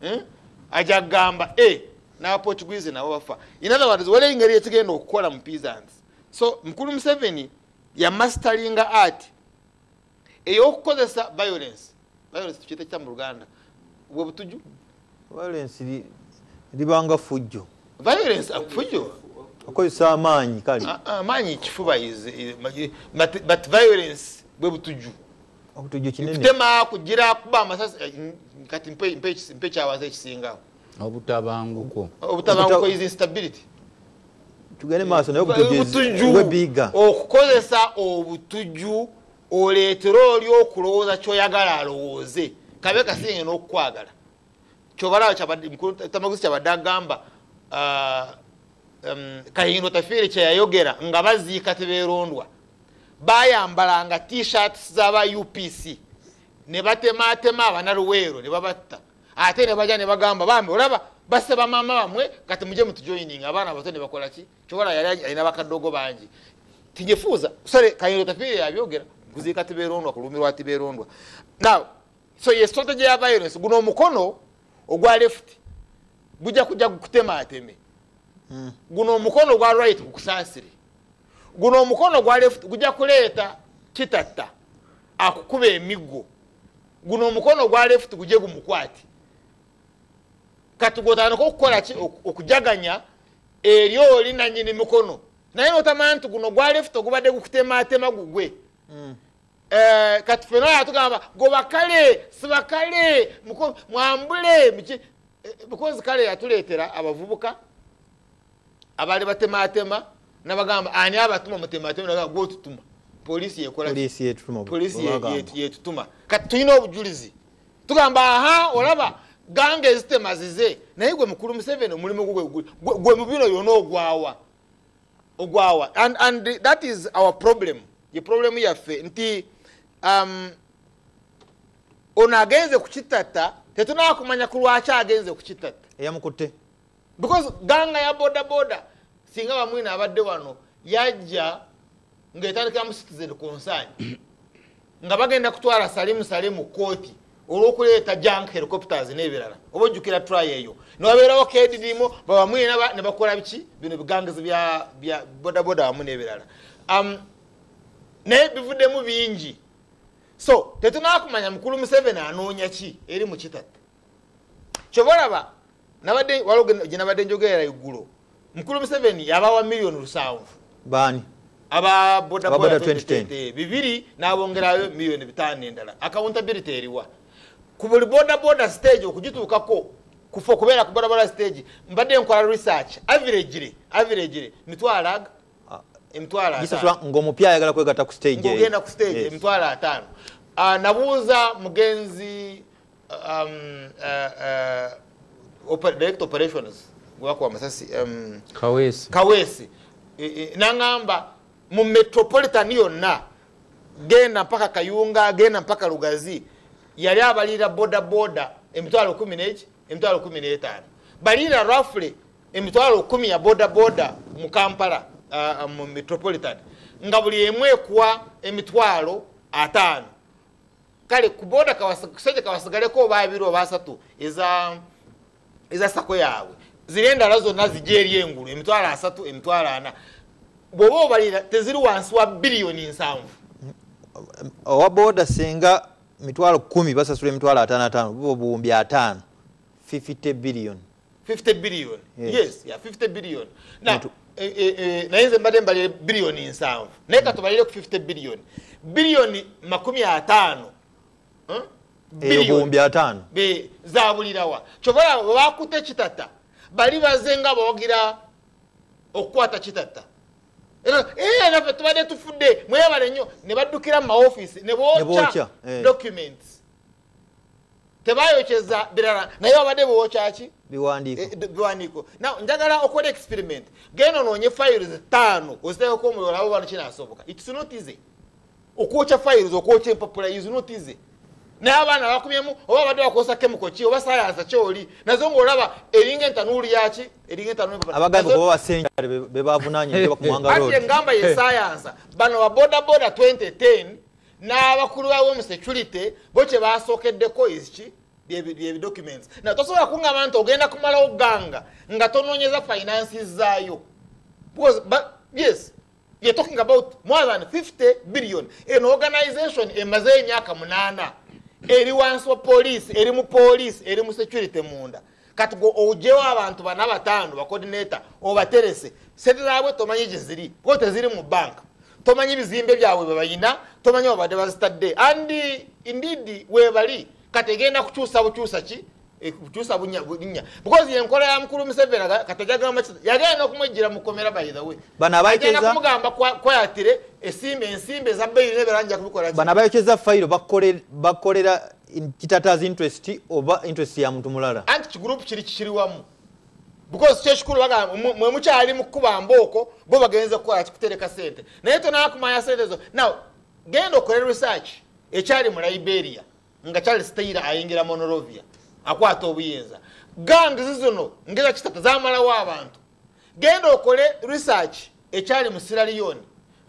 hmm? aja gamba e eh, nabaportuguese nabo bafa in other words waliwo engeri yekigenda okukola mu peasants so mukulu museveni yamastalinga art eyokukozesa violence violence tukyeta kitya mu luganda bwe butuju violence libanga fujjo violence fujjo akozesa amaanyi kale amaanyi ah, ah, kifuba but violence bwe butuju okutujju kinene kutema kujira kuba amasasi eh, kati mpe mpe mpe kyawaze kisinga obutabanguko obutabanguko is instability tugende maaso naye obutujju we biga okukozesa obutujju oleetera oli okulowooza kyoyagala alowooze kabe kasinge n'okukwagala kyobalawo tamaguzi kyabadde agamba ah, um, kahindo tafiire kyeyayogera nga baziika teberondwa bayambalanga tshirts zaba upc nebatematema abanaluweero nebabatta ate nebaja nebagamba bambi olaba base bamama bamwe kati muje mutujoining abaana abato nebakolaki kyobola yali alina bakadogo bangi tinyefuuza sale kayiro tafiire yabyogera kuziika tiberondwa kulumirwa tiberondwa now so ye strategy ya violence guno omukono ogwa left gujja kujja gukutemateme hmm. guno omukono ogwa right gukusansire guno omukono gwa left gujja kuleeta kitatta akukuba emiggo guno omukono gwa left guje gumukwati kati gwotandika okukola ki okujaganya eri oli nanyini mikono naye notamanya nti guno gwa left ogubadde gukutematema gugwe mm. eh, kati fena yatugamba gobakale sibakale mwambule eh, because kale yatuleetera abavubuka abaali batematema nabagamba ani abatuma mutematema gwotutuma polisi yekolapolisi yetutuma kati tulina obujulizi tugamba aha olaba ganga ezitema zize naye gwe mukulu museveni omulimu gwe mubino yona ogwawa ogwawa and, and that is our problem ye problemu yaffe nti um, ono agenze kukitata tetunakumanya kulwaki agenze kukitata eyamukutte because ganga ya boda boda singa bamwina abadde wano yajja ngaetandikira mu citizen concern nga bagenda kutwala salimu salimu kooti olwokuleeta jank helicopters nebirala oba ojjukira try eyo newabeerawo kedidimu babamwina nebakola biki bino bigangizi bya bodaboda wamu nebirala um, naye bivuddemu bingi so tetunakumanya mukulu museveni anoonya ki eri mukitatta kyova olaba nabadde waliwo gyenabadde njogerera iggulo mukulu museveni yabawa miliyoni lusanvu baani aba bodaboda 2010 bibiri nabongerayo miliyoni bitaano endala accountability eriwa ku buli bodaboda stage okugituukako kufa okubeera ku bodaboda stage mbadde nkola research averagely averagely mitwalo aga ah, emitwalo ngaomupya ayagala kwegata ku stagegenda ku stage eh, emitwalo ataano ah, nabuuza mugenzi um, uh, uh, direct operations gwakuwa amasasi um, kawesi, kawesi. E, e, nangamba mu metropolitan yonna genda mpaka kayunga genda mpaka lugazi yali abalira bodaboda emitwalo kumi neki emitwalo kumi n'etaano balira rafle emitwalo kumi ya bodaboda mu kampala uh, mu metropolitan nga buli emu ekuwa emitwalo ataano kale kuboda kusajja kawasigaleko oba abiri oba asatu eza eza sako yaabwe ziri endala zonna zija eri engulu emitwalo asatu emitwalo ana bwoba obalira teziri wansi wa biliyoni nsanvu owa boda singa mitwalo kumi basasula emitwalo atano atano bubo buwumbi atano 50 biliyoni 50 billion yes, yes yeah, 50 billion now Mutu. E, e, e, naye nze mbadde mbalire biliyoni nsanvu naye katubalire ku 50 biliyoni biliyoni makumi ataano eh, eyobuwumbi ataano zabulirawa kyobola webakuta ekitata bali baze nga bawagira okukwata kitata eh, nafe tubadde tufudde mwebale nnyo ne baddukira mu maofiisi ne bookya eh. documents tebayokyeza birala naye babadde bewokyaki biwandiiko eh, now njagala okola experiment genda onoonye files taano oziteekako omuliro labo bano kinasoboka its not easy okwokya files okwokya empapula is not easy naye abaana bakumyemu oba badde bakozesa kemiko ki oba sayansa kyoli nazo ngaolaba eringa entanuulu yaki eringa entanuulubebavunaanyigamba ye sayansa bano babodaboda 2010 n'abakulu bawo mu security bo kye basookeddeko eziki byebidocuments naye tosobola kuŋŋamba nti ogenda kumalawo ganga nga tonoonyeza finances zaayo because yes you're talking about more than 50 billion an organization emaze emyaka munaana eri wansi wa poliisi eri mu poliisi eri mu security munda kati gwe ojewo abantu bana bataano bakodineta obaterese sente zabwe tomanyi gyeziri kuba teziri mu banka tomanyi bizimbe byabwe bwebayina tomanyi babadde bazitadde and indeed webali kati egenda kukyusa bukyusa ki eh, kukyusa bunya because yenkola ya mukulu museveni kati ajagamba ki yagenda nokumwejjira mukomera by the way bano abaegenda kumugamba kwayatire esimbe ensimbe eza beyiri neberanjakubikola bano abayokyeza fayiro bakolera kitataza interest oba interest ya muntu mulala anti kigroup kiri kikiri wamu because kyekikulu bagamba mwe mukyali mukukuba mbooko bo bagenze kukola kikutereka sente naye tonakumanya sente zo now genda okole research ekyali mu liberia nga charles taylor ayingira monorovia akwata obuyinza gangs zino ngeza kitata zamalawo abantu genda okole research ekyali mu siraliyoni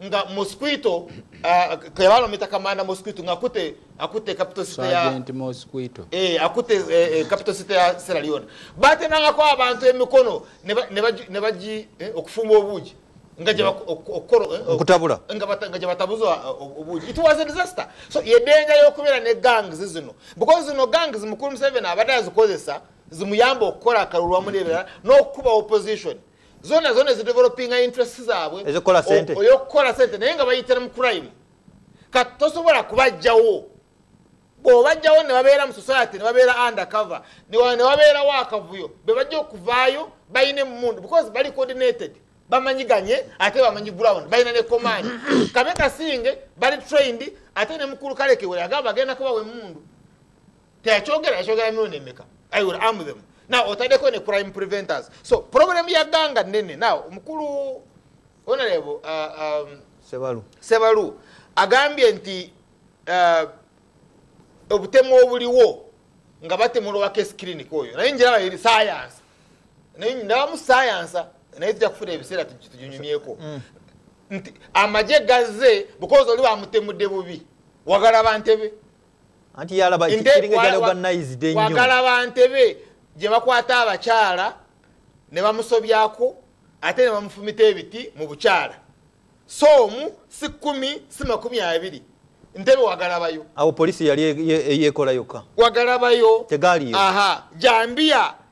nga mosquito uh, kebalo mita kamanda mosquito nga kute akute capital city ya agent mosquito eh akute eh, eh, capital city ya Sierra Leone bate nanga kwa abantu emikono ne ne baji eh, okufumba obuji nga je okoro eh, okutabula nga bata nga je batabuzo uh, obuji it was a disaster so ye danger yokubera ne gangs zino because no gangs mukuru 7 abadazi kozesa zimuyamba okukola akalulu wamu nebirala n'okukuba opposition zona zona ezidevelopinga interest zaabwe eyokukola sente naye nga bayitira mu crime kati tosobola kubajjawo bwobajjawo nebabeera mu society nebabeera undercover newabeerawo akavuyo bebajja okuvaayo balina emundu because bali coordinated bamanyiganye ate bamanyi ground balina ne command kabe kasinge bali trained ate ne mukulu kalekewere agamba agenda kubawa emundu teyakyogera yakyogera mirundi emeka i will arm them now otadeko ne crime preventers so problem ya ganga nene now mukulu honorable uh, um, sebalu sebalu agambye nti uh, obutemu obuliwo nga batemula owa case clinic oyo naye njiraba eri science naye ndabamu science naye tujja kufuna ebiseera tuginyumyeko mm. nti amagye gazze because oli bamutemudde bubi wagala bantebe anti yalaba wagala bantebe gye bakwata abakyala ne bamusobyako ate ne bamufumita ebiti mu bukyala so omu si kumi si makumi abiri ntebe wagalabayo awo polisi yali e- e- yekola yokka wagalabayo tegaliyo aha jambiya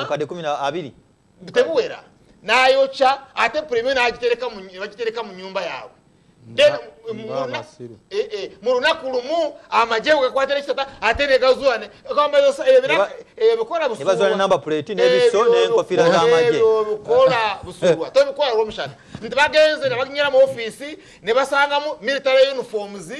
mukadde kumi abiri tebuwera nayokya ate premio nagitereka mu nyumba yaabwe Eh, eh, mu lunaku lumu amagye wekwatira ekitata ate negazuane ebikola busuwaebikola busuwa tebikola lwomushana nti bagenze nebaginyera mu ofiisi nebasangamu military uniforms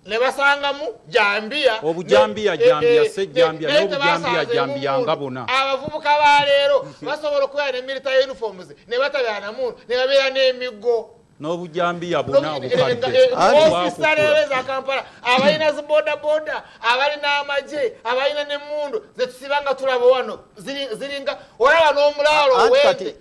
ne basangamu jambiya obujambiya jambiya se jambiya ne obujambiya jambiya nga bona abavubuka ba leero basobola okubeera ne military uniforms ne batabeera na muntu ne babeera n'emiggo n'obujambiya bona obukaddeofisa leero eza kampala abalina zi bodaboda abalina amagye abalina n'emmundu zetusiba nga tulaba wano ziringa olaba n'omulaalo owende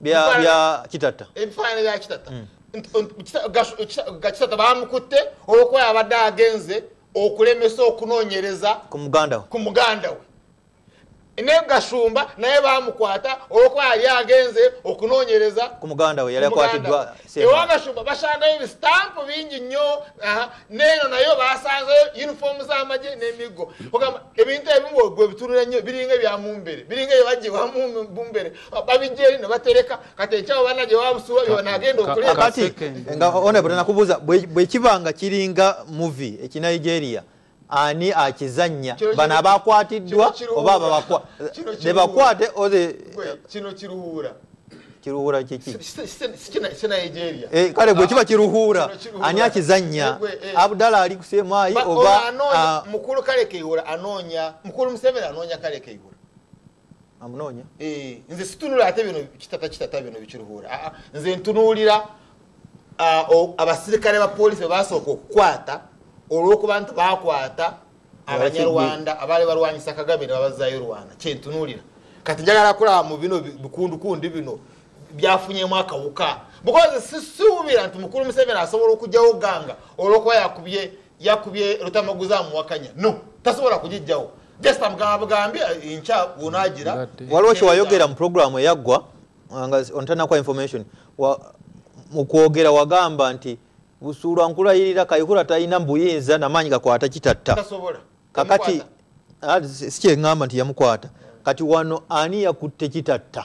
byakitatta ebifaananyi bya kitatta mm. gakitatta bamukutte olwokuba yabadde agenze okulemesa okunoonyereza ku muganda we naye gashumba naye bamukwata olwokuba yali agenze okunoonyereza ku muganda we yali akwatiddwa ewabashumba basangayo ebisitampu bingi nnyo neeno nayo basanzeyo uniform z'amagye n'emiggo ogamba ebintu ebimu gwe bitunula nnyo biringa ebya mumbere biringa ebyo bajewa mumbere babijeri ne batereka kati ekyawo bana gye babusuwa byobanagenda okuleakati nga onebule nakubuuza bwe kiba nga kiringa muvi ekinigeria ani akizanya bano abakwatiddwa oba nebakwate kiruhura kikikale gwe kiba kiruhura ani akizanya abdala ali kusemayi oba ah. mukulu kale keihura anonya mukulu museveni anonya kale keihura amunoonya eh, nze situnula ate bino kitata kitata bino bikiruhuura ah, ah, nze ntunuulira ah, abasirikale ba polisi bebasooka okukwata olwokuba nti bakwata abanyarwanda abaali balwanyisa kagame nebabazayo rwanda kyentunuulira kati njagala akulaba mu bino bikundukundi bino byafunyemu akawuka bukozi sisuubira nti mukulu museveni asobola okugyawo ganga olwokuba yakubye yakubye lutamaguza amuwakanya no tasobola kugijjawo just amugamba bugambi eh, enkya wonagira waliwo kyewayogera mu programu eyaggwa nga ontanakwa information mu kwogera wagamba nti busuulwa nkulayirira kayihura talina mbuyinza namaanyi gakwata kitatta kakati ah, sikyeŋamba nti yamukwata kati wano ani yakutte kitatta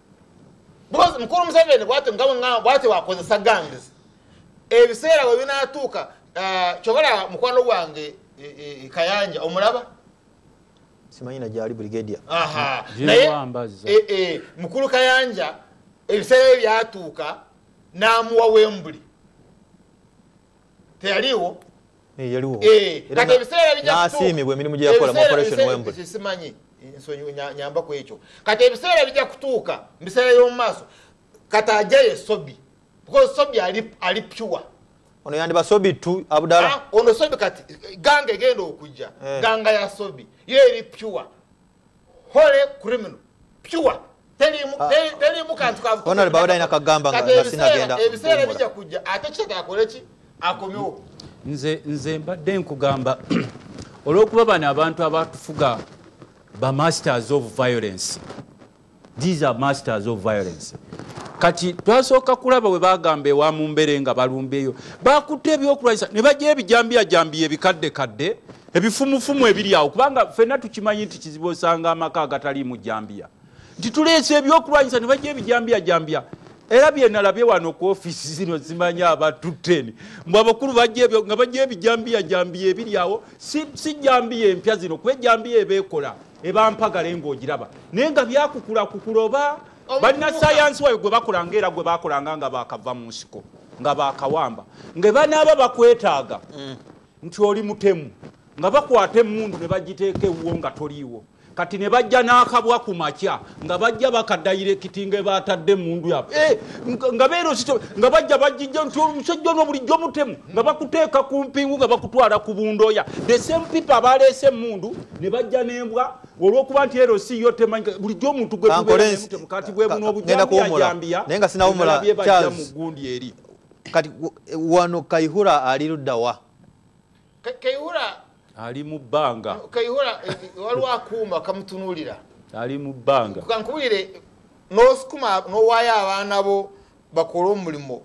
because mukulu museveni bwati nga bwengamba bwati wakozesa gangs ebiseera we binatuuka ah, kyobalaba mukwano gwange e, e, e, kayanja omulaba simanyina gyali brigadia naye mukulu kayanja ebiseera bye byatuuka n'amuwa wembuli teyaliwo eh, yaliwo eh, kati ebiseera bijasiimibwa emirimu gyeyakola mu operation wembury simanyi nyamba ku ekyo kati ebiseera bijja kutuuka mu biseera y'omu maaso kati ajayo esobi because sobi ali pure ono yandiba sobi tu abudala ah, ono sobi kati ganga egenda okujja eh. ganga ya sobi yo eri pure hole criminal pure telimu ah. kantu kavuonale bawada ina kagamba nga sinagenda ebiseera bijja kujja ate kitata akole ki akomewo nze nze mbadde nkugamba olwokuba bano abantu abatufuga ba masters of violence these are masters of violence kati twasooka kulaba bwe bagamba ewa mu mbere nga balumbeeyo bakutte ebyokulwanyisa ne bajja ebijambiyajambiya ebikaddekadde ebifumufumu ebiri awo kubanga fenna tukimanyi nti kizibu osanga amaka agataliimu jambiya nti tuleese ebyokulwanyisa ne bajja ebijambiyajambiya era byenalabye wano ku ofiisi zino zimanyi abatuteni mbu abakulu bajebyo nga bajja ebijambiyajambiya ebiri awo si jambiya empya zino kuba ejambiya ebeekola eba mpagale ng'ogiraba naye nga byakukulakukula oba balina sayansi wayo gwe bakolanga era gwe bakolanga nga bakava mu nsiko nga bakawamba nga banaaba bakwetaaga mm. nti oli mutemu nga bakwata emundu ne bagiteeka ewuwo nga toliiwo kati ne bajja n'akabwa ku makya nga bajja bakadayirekiti nga batadde emundu yabwe eh, nga beerosito nga bajja bajijja nti omusajja ono bulijjo mutemu nga bakuteeka ku mpingu nga bakutwala ku bundoya the same people abaleese emundu ne bajja n'embwa olwokuba nti ero si yo temanyi bulijjo omuntu gwetubeemutemukati bwebuno obujambiyajambiya naye nga sinawumula mu gundi eri kati wano kaihura ali luddawa ali mu bbanga kaihura eh, eh, waliwo akuuma kamutunuulira ali mu bbanga kankubulire nosukuma nowaayo abaana bo bakole omulimu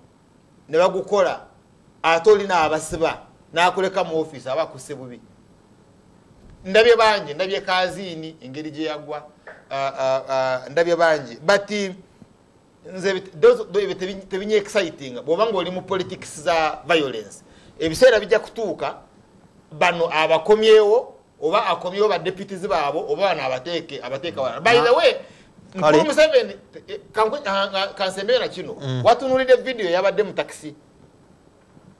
ne bagukola ate olina abasiba nakuleka mu ofiisi aba akuse bubi ndabye bangi ndabye kaziini engeri gye yagwa ndabye bangi but nze ebyo tebinya exciting bwoba nga oli mu politics za violence ebiseera bijja kutuuka bano abakomyewo oba akomyewo badeputizi baabo oba bano abateeke abateeka wala by the way nkulu museveni eh, kansembeera kino mm. watunulidde vidiyo yabadde mu takisi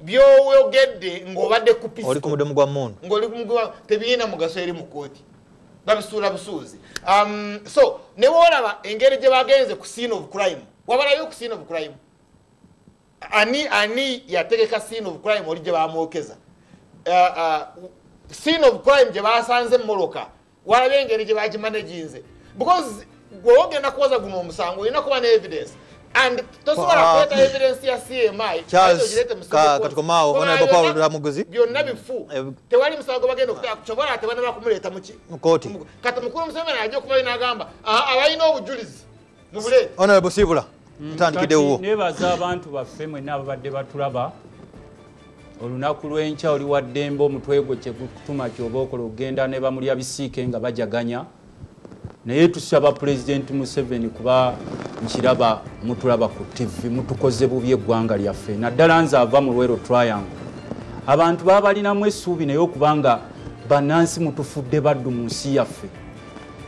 byoyogedde ng'obadde kupisoli ku mudumu gwa mundu ng'oli ku mudumu tebirina mugaso eri mu kkooti babisuula busuuzi um, so ne woolaba engeri gye bagenze ku scene of crime wabalayo ku scene of crime ani ani yategeka scene of crime oli gye bamwokeza uh, uh, scene of crime gye basanze mumoloka walabe engeri gye bakimanaginze because gwe ogenda kuwoza guno omusango olina kuba ne evidence and tosobola ah, kuleeta ah. evidence ya cmi katukomaawo honorable paul lutamuguzi byonna bifu eh, tewali musango bagenda okutaka kyobola tebana bakumuleeta muki mukooti kati mukulu museveni ajja okubayo n'agamba ah, abalina obujulizi honorable sibula mm, ntandikide wuwo nebaza abantu baffe mwena ababadde batulaba olunaku lwenkya oli waddembe omutwe gwo kyegutuma kyoba okola okugenda ne bamulya bisiike nga bajaganya naye tusaba pulezidenti museveni kuba nkiraba mutulaba ku tivi mutukoze bubi eggwanga lyaffe naddala nze ava mu lwero triangle abantu babalinamu essuubi naye okubanga banansi mutufudde baddu mu nsi yaffe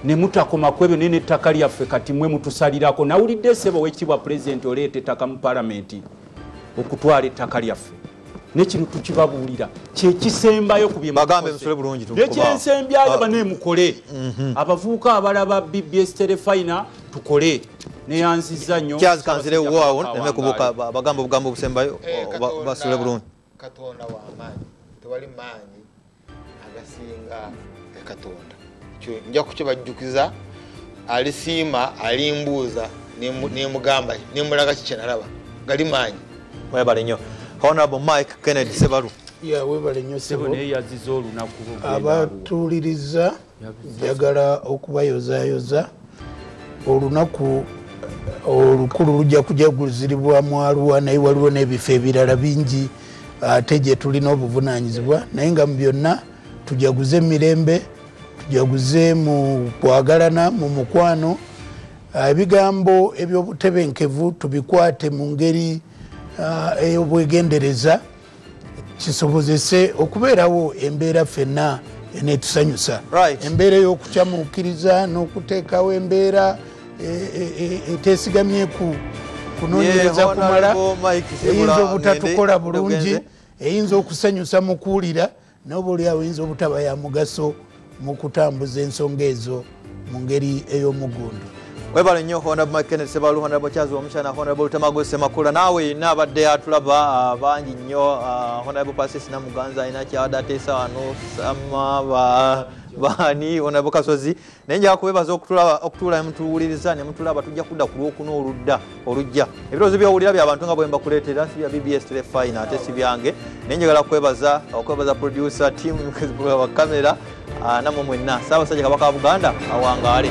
ne mutakoma ku ebyo naye n'ettaka lyaffe kati mwe mutusalirako nawulidde esebo wekitiibwa pulezidenti oleeta ettaka mu palamenti okutwala ettaka lyaffe nekino tukibabuulira kyekisembayo ku byenekyensembyayo banemukole mhm. abavubuka abalaba bbs telefina tukole neyanziza nyo kyazikanzirewoawo nemekubuka bagamba obugambo obusembayo eh, basule bulungi katonda wamaanyi tewali maanyi agasinga ekatonda nja kukibajjukiza alisiima alimbuuza nemugamba nemulaga kikyenalaba gali maanyi webale nyo honorable mike kennedy sebalu yawebale nyo sebo neyeyazizza olunaku abatuuliriza njagala okubayozayoza olunaku olukulu lujja kujaguziribwa mwaluwa naye waliwo n'ebifo ebirala bingi ate gye tulina obuvunanyizibwa naye nga mu byonna tujaguze emirembe tujaguze mu kwagalana mu mukwano ah, ebigambo ebyobutebenkevu tubikwate mu ngeri ah, ey'obwegendereza kisobozese okubeerawo embeera fenna enetusanyusa embeera ey'okucamuukiriza n'okuteekawo embeera e, e, e, etesigamye ku kunonyereza kumala eyinza obutatukola bulungi eyinza okusanyusa mu kuwulira noba oli awoyinza obutaba ya mugaso mu kutambuza ensonga ezo mu ngeri ey'omugundu webale nnyo honrable mckennet sebalu honrable charles omukyana honrable lutamago semakula naawe yina abadde atulaba ah, bangi nnyo ah, honrable pasis namuganza alina kyabadde ateesa wano sama baani honrable kasozi naye njala kubebaza okutuula nemutuwuliriza nemutulaba tujja kudda ku lwokuna oludda olujja ebirowoozo byowulira byabantu nga bwemba kuleetera sibya bbs telefina ate sibyange naye njagala kwebaza okwebaza producer team wakamera ah, namwe mwenna saabasajja kabaka wa buganda awangaale